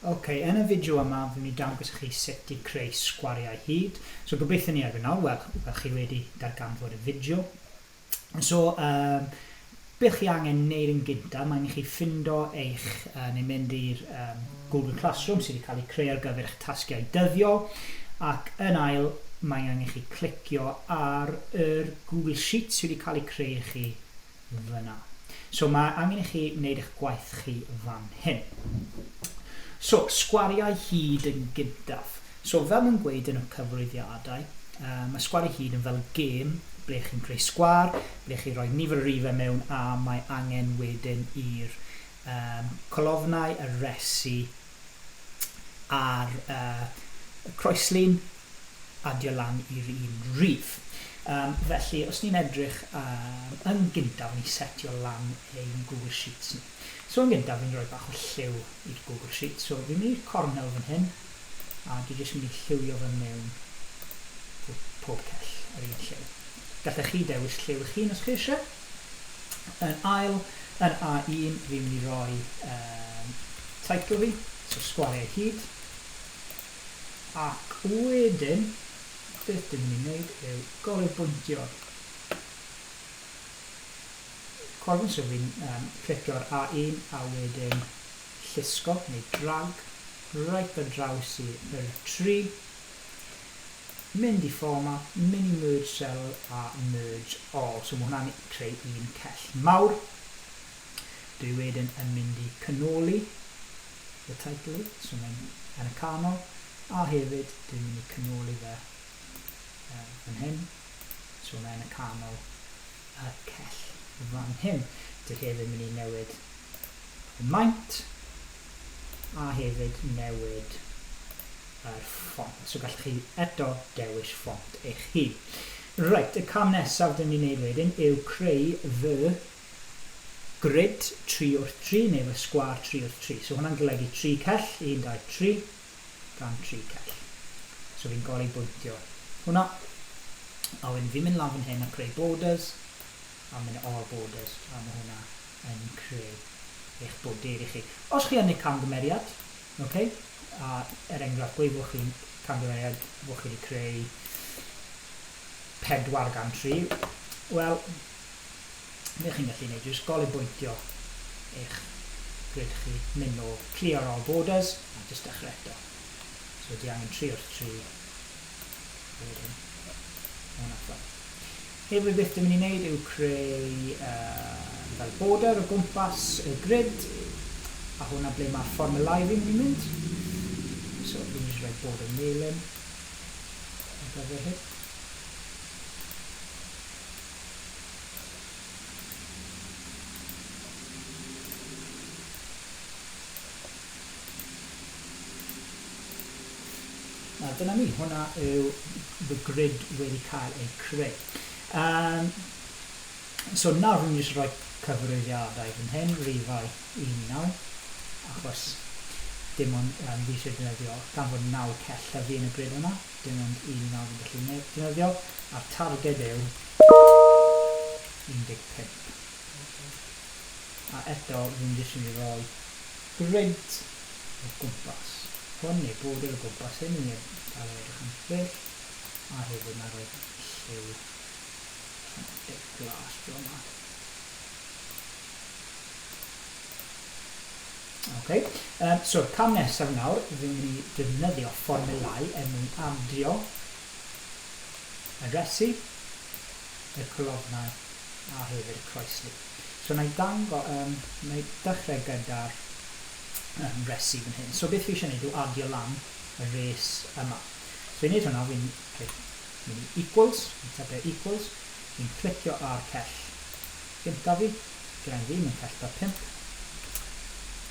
Ok, yn y fideo yma fi'n mynd i dangos i chi sut i creu sgwariau hyd. So gobeithio ni erbyn nawr, wel, fel chi wedi darganfod y fideo. So, um, beth chi angen wneud yn gynta, mae'n i chi ffindo eich, uh, neu mynd i'r um, Google Classroom sydd wedi cael ei creu ar gyfer eich tasgiau dyddiol, ac yn ail, mae angen i chi clicio ar yr Google Sheets sydd wedi cael ei creu i chi fyna. So mae angen i chi wneud eich gwaith chi fan hyn. So, sgwariau hyd yn gyntaf. So, fel mae'n gweud yn y cyflwyniadau, uh, mae sgwariau hyd yn fel gêm ble chi'n creu sgwar, ble chi roi nifer y rifau mewn a mae angen wedyn i'r um, colofnau, y resi ar uh, y croeslin, adio lan i'r un rif. Um, felly, os ni'n edrych um, yn gyntaf, ni setio lan ein Google Sheets ni. So yn gyntaf, fi'n rhoi bach o lliw i'r Google Sheets. So fi'n mynd i'r cornel fan hyn, a dwi jyst mynd i lliwio fe mewn pob cell yr un lliw. Gallech chi dewis lliw eich hun os chi eisiau. Yn ail, yn A1, fi'n mynd i roi um, teitl fi, so sgwariau hyd. Ac wedyn, beth dwi'n mynd i wneud yw goruchbwyntio. Cwrfyn, so fi'n um, clicio'r A1 a wedyn llusgo neu drag right ar draws i'r 3 mynd i format mini merge cell a merge all, so mae hwnna'n creu un cell mawr. Dwi wedyn yn mynd i cynoli y title, so mae'n yn y canol, a hefyd dwi'n mynd i cynoli fe uh, fan hyn, so mae'n y canol y cell fan hyn. Dwi hefyd mynd i newid y maint a hefyd newid yr ffont. So gallwch chi eto dewis ffont eich hun. Reit, y cam nesaf dyn ni'n neud wedyn yw creu fy grid 3 wrth 3 neu fy sgwar 3 wrth 3. So hwnna'n golygu 3 cell, 1, 2, 3, dan 3 cell. So fi'n gori bwyntio hwnna. A wedyn fi'n mynd lan fan hyn a creu borders, a mynd all borders, a mae hwnna yn creu eich border i chi. Os chi yn neud camgymeriad, Ok? A er enghraifft, gweud bod chi'n camgymeriad, bod chi wedi creu pedwar gan tri, wel, beth chi'n gallu gwneud yw jyst golibwyntio eich grid chi, mynd nôl, clear all borders, a jyst dechrau eto. So di angen tri wrth tri, a wedyn, hwn allan. Be wy byth yn mynd i wneud yw creu yy fel border o gwmpas y grid a hwnna ble mae'r fformulau fi'n mynd i mynd. So fi'n mynd i roi border melyn ar gyfer hyn. A dyna ni, hwnna yw fy grid wedi cael ei creu. Um, so nawr rwy'n jyst rhoi cyfrifiadau fan hyn, rifau un i naw, achos dim ond um, fi eisiau defnyddio, gan fod naw cell llyfu yn y grid yma, dim ond un i naw fi'n gallu defnyddio, a'r targed yw 15. A eto, rwy'n jyst yn mynd i roi Grynt o gwmpas hwn, neu bowdr o gwmpas hyn, mi a fe edrych yn ffrill, a hefyd na roedd lliw allan o dip glas draw ma. Ok, um, so cam nesaf nawr, fi'n mynd i defnyddio fformulau er mwyn adio y resi, y colofnau a hefyd y croeslu. So wna i dango, um, wna i dechrau gyda'r um, resi fan hyn. So beth fi eisiau gwneud yw adio lan y res yma. So i wneud hwnna, fi'n okay, mynd i equals, fi'n typio equals, fi'n clicio ar cell gynta fi, gyda'n fi, mae'n cell 45,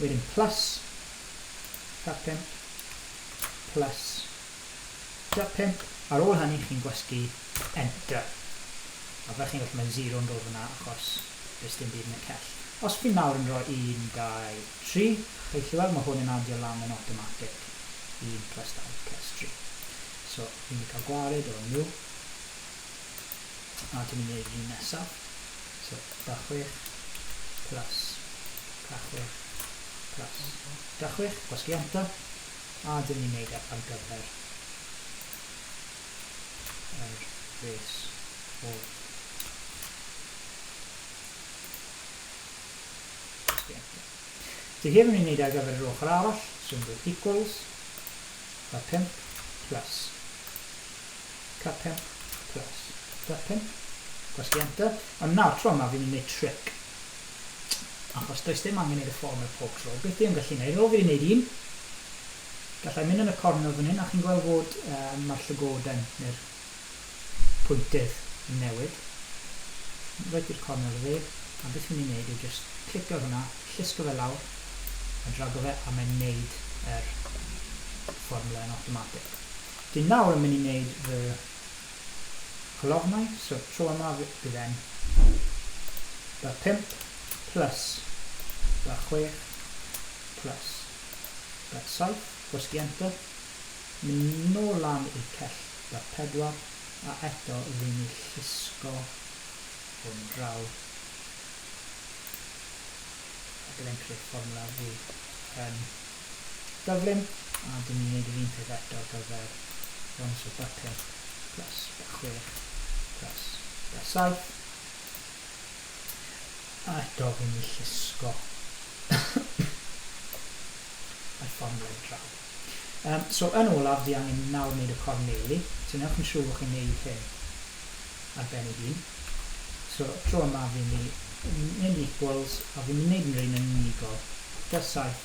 wedyn plus 45, plus Tua pump, ar ôl hynny chi'n gwasgu enter. A fel chi'n gweld mae zero'n dod fan'na achos does dim byd yn y cell. Os fi nawr yn rhoi un, dau, tri, chi'n gallu weld mae hwn yn adio lan yn awtomatig. Un plus dau plus tri. So, fi'n mynd i cael gwared o new. A dwi'n mynd i wneud yr un nesa. So, da chwech plus da chwech plus da chwech. Gwasgu enter. A dyn ni'n neud e ar gyfer yr res o Dwi hefyd yn neud e ar gyfer yr ochr arall, so yn dweud equals da 5 plus ca 5 plus da 5 gwasgu enter, ond nawr tro yma fi'n mynd i neud trick achos does dim angen i dy ffôn ar pob tro. Beth dwi yn gallu wneud? O, fi wedi wneud un. Gallai mynd yn y cornel fan hyn, a chi'n gweld fod um, mae'r llygoden neu'r pwyntydd yn newid. Rhaid i'r cornel y fe, a beth fi'n ei wneud yw just clicio ar hwnna, llusgo fe lawr, a drago fe, a mae'n wneud yr fformula yn automatic. Dwi'n nawr yn mynd i wneud fy Colofnau, so tro yma bydd e'n ba pump plus ba chwech plus ba saith, gwasgu enter, mynd nôl lan i'r cell ba pedwar a eto ry'n ni llusgo hwn draw a bydd e'n creu fformwla fwy yn Gyflym. A dyn ni'n neud yr un peth eto ar gyfer Rhonda, so ba 5 plus ba 6 plus ba 7. A eto fi'n mynd i llusgo yr fformiwlâu draw. Yym, so yn olaf, fi angen nawr neud y corneli, so newch yn siŵr fod chi'n neud hyn ar ben ei hun. So, tro yma fi'n mynd i mynd i equals, a fi'n mynd i neud yn yr un yn unigol, plus 7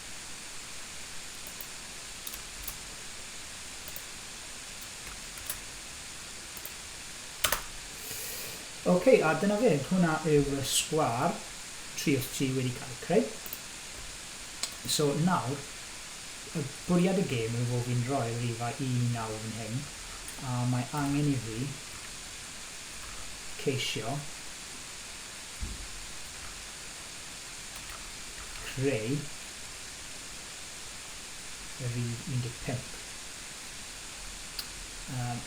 Ok, a dyna fe, hwnna yw y sgwâr tri'r tu wedi cael ei creu. So nawr, y bwriad y gêm yw fod fi'n rhoi rifa 1 i 9 fan hyn, a mae angen i fi ceisio creu y rif 15. Um,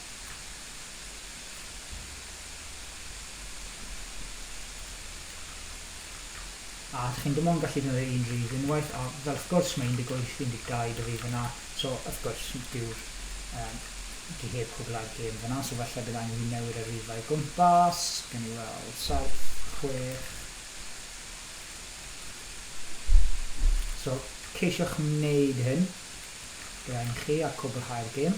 a chi'n dim ond gallu defnyddio un rif unwaith, a fel wrth gwrs mae 18, 12 dy rif yna, so wrth gwrs dyw'r um, di heb cwblhau'r gêm fyna, so felly bydd angen i fi newid y rifau gwmpas, gen i weld 7, 6, So, ceisiwch wneud hyn gyda'n chi a cwblhau'r gêm.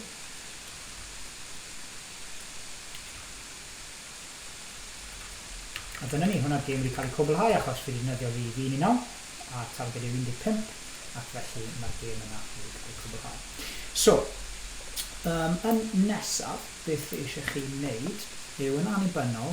A dyna ni, hwnna'r gêm wedi cael ei cwblhau achos fi wedi defnyddio fi fi ni nawr, a targed yw 15, ac felly mae'r gêm yna wedi cael ei cwblhau. So, um, yn nesaf, beth eisiau chi wneud yw yn annibynnol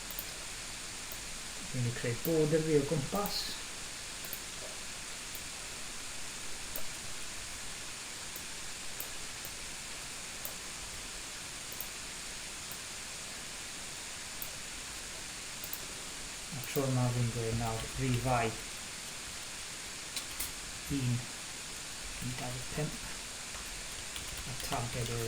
Dwi'n mynd i creu border fi o gwmpas. A tro yma fi'n dweud nawr rifau 1.25 a targed yw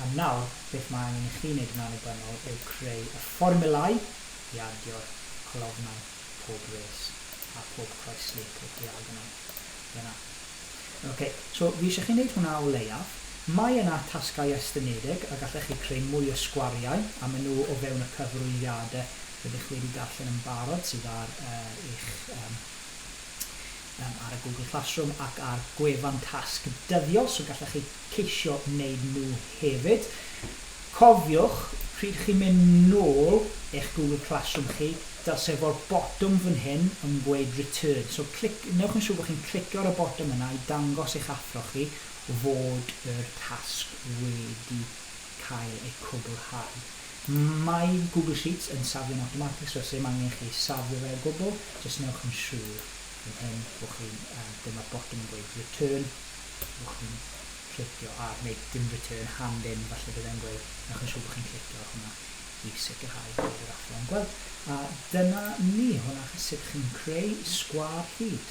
Am nawr, beth mae angen i chi wneud yn annibynnol yw creu y fformiwlau i ardio'r colofnau pob res a phob croeslu, pob diagonal. Ie na. Ok, so fi eisiau chi wneud hwnna o leiaf. Mae yna tasgau estynedig a gallech chi creu mwy o sgwariau a maen nhw o fewn y cyfrwygiadau rydych wedi darllen yn barod sydd ar eich Yym, ar y Google Classroom ac ar gwefan tasg dyddiol, so gallech chi ceisio wneud nhw hefyd. Cofiwch, pryd chi'n mynd nôl i'ch Google Classroom chi, dylse fo'r botwm fan hyn yn gweud return, so clic, newch yn siŵr bod chi'n clicio ar y botwm yna i dangos i'ch athro chi fod yr tasg wedi cael ei cwblhau. Mae Google Sheets yn safio'n awtomatig, so does dim angen chi safio fe o gwbl, jyst newch yn siŵr yn hyn, bo chi'n, um, dyma'r botwm yn gweud return, bo chi'n clicio ar, neu dim return, hand in, falle bydd e'n gweud, newch yn siŵr bod chi'n clicio ar hwnna i sicrhau bod yr athro yn gweld. A dyna ni, hwnna chi sut chi'n creu sgwâr hyd.